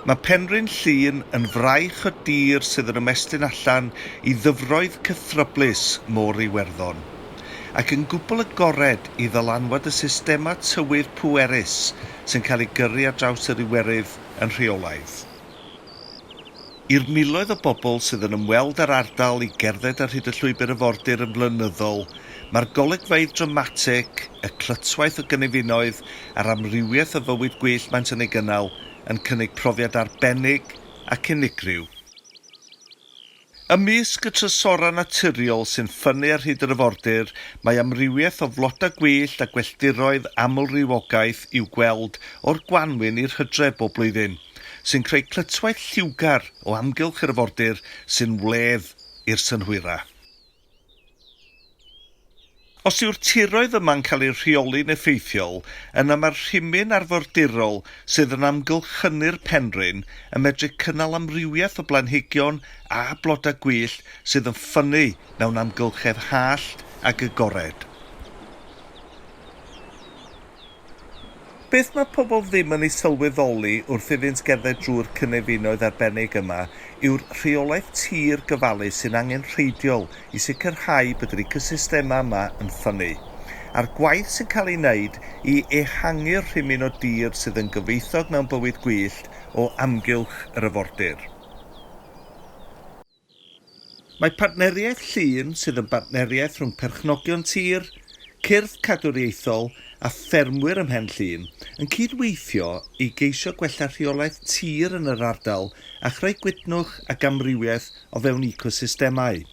Mae Penrhyn Llŷn yn fraich o dir sydd yn ymestyn allan i ddyfroedd cythryblus Môr Iwerddon, ac yn gwbl agored i ddylanwad y systemau tywydd pwerus sy'n cael eu gyrru ar draws yr Iwerydd yn rheolaidd. I'r miloedd o bobl sydd yn ymweld â'r ardal i gerdded ar hyd y Llwybr Afordir yn flynyddol, mae'r golygfeydd dramatig, y clytwaith o gynefinoedd a'r amrywiaeth o fywyd gwyllt maent yn ei gynnal yn cynnig profiad arbennig ac unigryw. Ymysg y trysorau naturiol sy'n ffynnu ar hyd yr afordir, mae amrywiaeth o flodau gwyllt a gwelldiroedd amlrywiogaeth i'w gweld o'r gwanwyn i'r hydref bob blwyddyn. sy'n creu clytwaith lliwgar o amgylch yr arfordir sy'n wledd i'r synhwyrau. Os yw'r tiroedd yma'n cael eu rheoli'n effeithiol, yna mae'r rhimyn arfordirol sydd yn amgylchynu'r penrhyn yn medru cynnal amrywiaeth o blanhigion a blodau gwyllt sydd yn ffynnu mewn amgylchedd hallt ac agored. Beth mae pobl ddim yn ei sylweddoli wrth iddynt gerdded drwy'r cynefinoedd arbennig yma yw'r rheolaeth tir gofalus sy'n angenrheidiol i sicrhau bod yr ecosystemau yma yn ffynnu, a'r gwaith sy'n cael ei wneud i ehangu'r rhimyn o dir sydd yn gyfoethog mewn bywyd gwyllt o amgylch yr afordir. Mae Partneriaeth Llŷn, sydd yn bartneriaeth rhwng perchnogion tir, cyrff cadwriaethol a ffermwyr ym Mhen Llŷn, yn cyd-weithio i geisio gwella rheolaeth tir yn yr ardal a chreu gwytnwch ac amrywiaeth o fewn ecosystemau.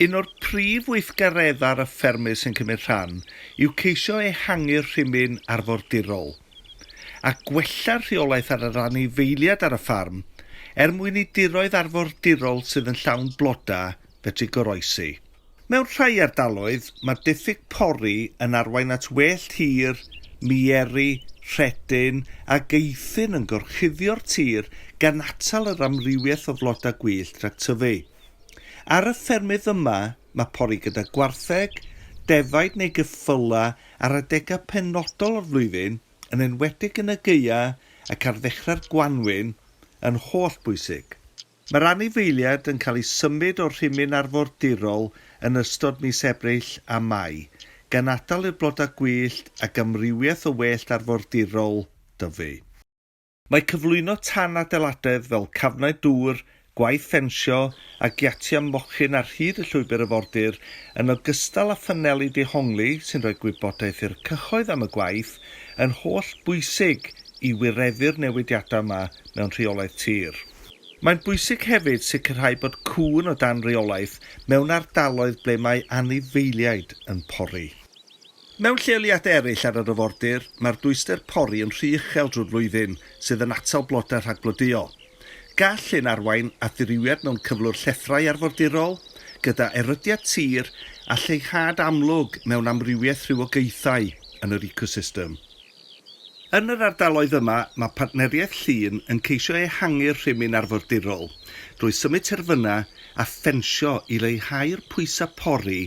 Un o'r prif weithgareddau'r y ffermydd sy'n cymryd rhan yw ceisio ehangu'r rhimyn arfordirol. a gwella'r rheolaeth ar y rhan eifeiliad ar y ffarm er mwyn i diroedd arfordirol sydd yn llawn blodau fedru goroesi. Mewn rhai ardaloedd, mae diffyg pori yn arwain at wellt hir, mieru, rhedyn ac eithin yn gorchuddio'r tir gan atal yr amrywiaeth o flodau gwyllt rhag tyfu. Ar y ffermydd yma, Mae pori gyda gwartheg, defaid neu geffylau ar adegau penodol o'r flwyddyn, yn enwedig yn y gaeau ac ar ddechrau'r gwanwyn, yn hollbwysig. Mae'r anifeiliaid yn cael eu symud o'r rhimyn arfordirol yn ystod mis Ebrill a Mai, gan atal i'r blodau gwyllt ac amrywiaeth o wellt arfordirol dyfu. Mae cyflwyno tan adeiladedd fel cafnau dŵr, gwaith ffensio a giatiau mochyn ar hyd y llwybr arfordir, yn ogystal â phaneli dehongli sy'n rhoi gwybodaeth i'r cyhoedd am y gwaith, yn holl bwysig i wireddu'r newidiadau yma mewn rheolaeth tir. Mae'n bwysig hefyd sicrhau bod cŵn o dan reolaeth mewn ardaloedd ble mae anifeiliaid yn pori. Mewn lleoliadau eraill ar yr afordir, mae'r dwyster pori yn rhy uchel drwy'r flwyddyn, sydd yn atal blodau rhag blodeuo. Gall hyn arwain at ddirywiad mewn cyflwr llethrau arfordirol, gyda erydiad tir a lleihad amlwg mewn amrywiaeth rhywogaethau yn yr ecosystem. Yn yr ardaloedd yma, mae Partneriaeth Llŷn yn ceisio ehangu'r rhimyn arfordirol drwy symud terfynau a ffensio i leihau'r pwysau pori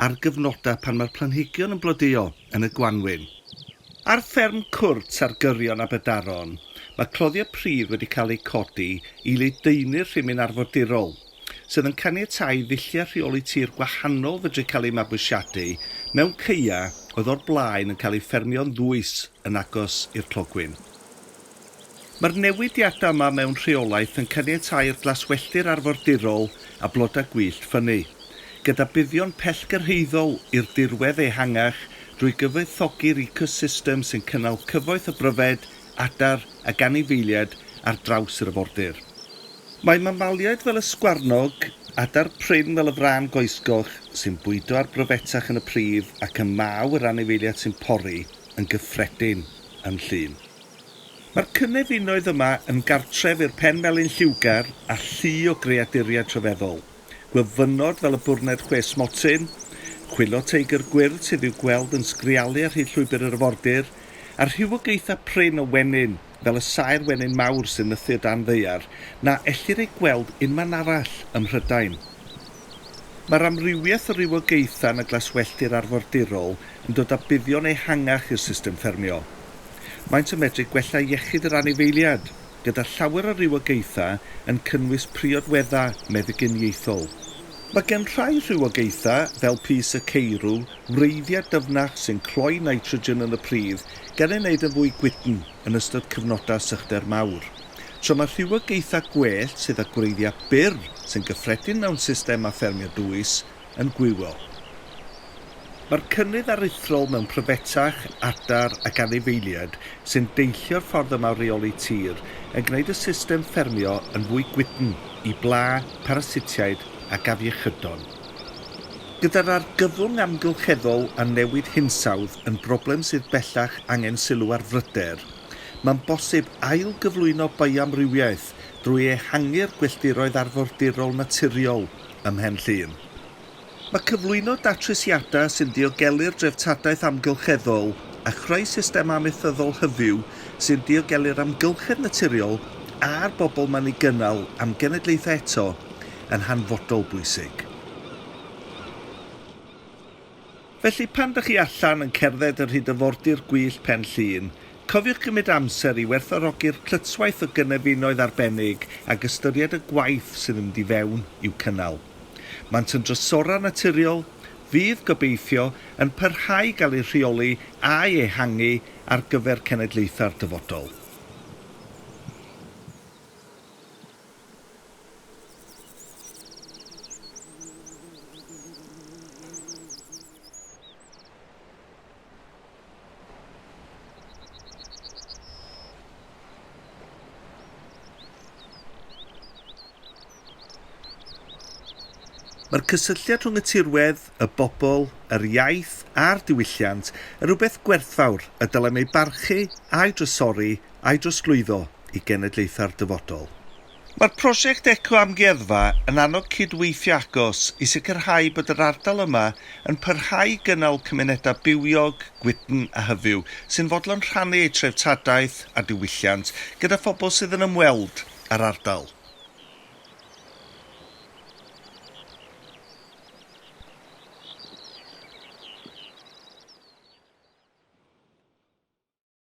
ar gyfnodau pan mae'r planhigion yn blodeuo yn y gwanwyn. Ar fferm cwrt ar gyrion Aberdaron, mae cloddiau pridd wedi cael eu codi i ledaenu'r rhimyn arfordirol. sydd yn caniatáu ddulliau rheoli tir gwahanol fedru cael eu mabwysiadu mewn caeau oedd o'r blaen yn cael eu ffermio'n ddwys yn agos i'r clogwyn. Mae'r newidiadau yma mewn rheolaeth yn caniatáu i'r glaswelltir arfordirol a blodau gwyllt ffynnu, gyda buddion pellgyrhaeddol i'r dirwedd ehangach drwy gyfoethogi'r ecosystem sy'n cynnal cyfoeth o bryfed adar ag anifeiliaid ar draws yr afordir. Mae mamaliaid fel y sgwarnog, adar prin fel y frân goesgoch, sy'n bwydo ar bryfetach yn y pridd ac y maw yr anifeiliaid sy'n pori, yn gyffredin yn Llŷn. Mae'r cynefinoedd yma yn gartref i'r pen melyn lliwgar a llu o greaduriaid rhyfeddol. Gwyfynod fel y bwrned chwe smotyn, chwilo teigr gwyrdd sydd i'w gweld yn sgrialu ar hyd llwybr yr afordir, a rhywogaethau prin o wenyn, fel y saer wenyn mawr sy'n nythu o dan ddaear, na ellir eu gweld unman arall ym Mhrydain. Mae'r amrywiaeth o rywogaethau yn y glaswelltir arfordirol yn dod â buddion ehangach i'r system ffermio. Maent yn medru gwella iechyd yr anifeiliaid. gyda llawer o rywogaethau yn cynnwys priodweddau meddyginiaethol. Mae gan rhai rhywogaethau, fel pys y ceirw, wreiddiau dyfnach sy'n cloi nitrogen yn y pridd, gan ei wneud yn fwy gwydn yn ystod cyfnodau sychder mawr. Tra mae rhywogaethau gwellt sydd â gwreiddiau byr sy'n gyffredin mewn systemau ffermio dwys, yn gwywol. Mae'r cynnydd aruthrol mewn pryfetach, adar ac anifeiliaid sy'n deillio'r ffordd yma o reoli tir yn gwneud y system ffermio yn fwy gwydn i bla, parasitiaid ac afiechydon. Gyda'r argyfwng amgylcheddol a newid hinsawdd yn broblem sydd bellach angen sylw ar fryder, mae'n bosib ail-gyflwyno bioamrywiaeth drwy ehangu'r gwylltiroedd arfordirol naturiol, ym Mhen Llŷn. Mae cyflwyno datrysiadau sy'n diogelu'r dreftadaeth amgylcheddol a chreu system amaethyddol hyfyw sy'n diogelu'r amgylchedd naturiol a'r bobl mae'n ei gynnal am genedlaethau eto yn hanfodol bwysig. Felly pan dych chi allan yn cerdded yn rhy ddyfordir gwyllt Pen Llŷn, cofiwch gymryd amser i werthfawrogi'r clytwaith o gynefinoedd arbennig ac ystyried y gwaith sydd yn mynd i fewn i'w cynnal. Maent yn drysorau naturiol fydd, gobeithio, yn parhau i gael eu rheoli a'u ehangu ar gyfer cenedlaethau'r dyfodol. Mae'r cysylltiad rhwng y tirwedd, y bobl, yr iaith a'r diwylliant yn rhywbeth gwerthfawr y dylem ei barchu a'i drysori a'i drosglwyddo i genedlaethau'r dyfodol. Mae'r prosiect eco-amgueddfa yn annog cyd-weithio agos i sicrhau bod yr ardal yma yn parhau i gynnal cymunedau bywiog, gwydn a hyfyw sy'n fodlon rhannu eu treftadaeth a diwylliant gyda phobl sydd yn ymweld â'r ardal.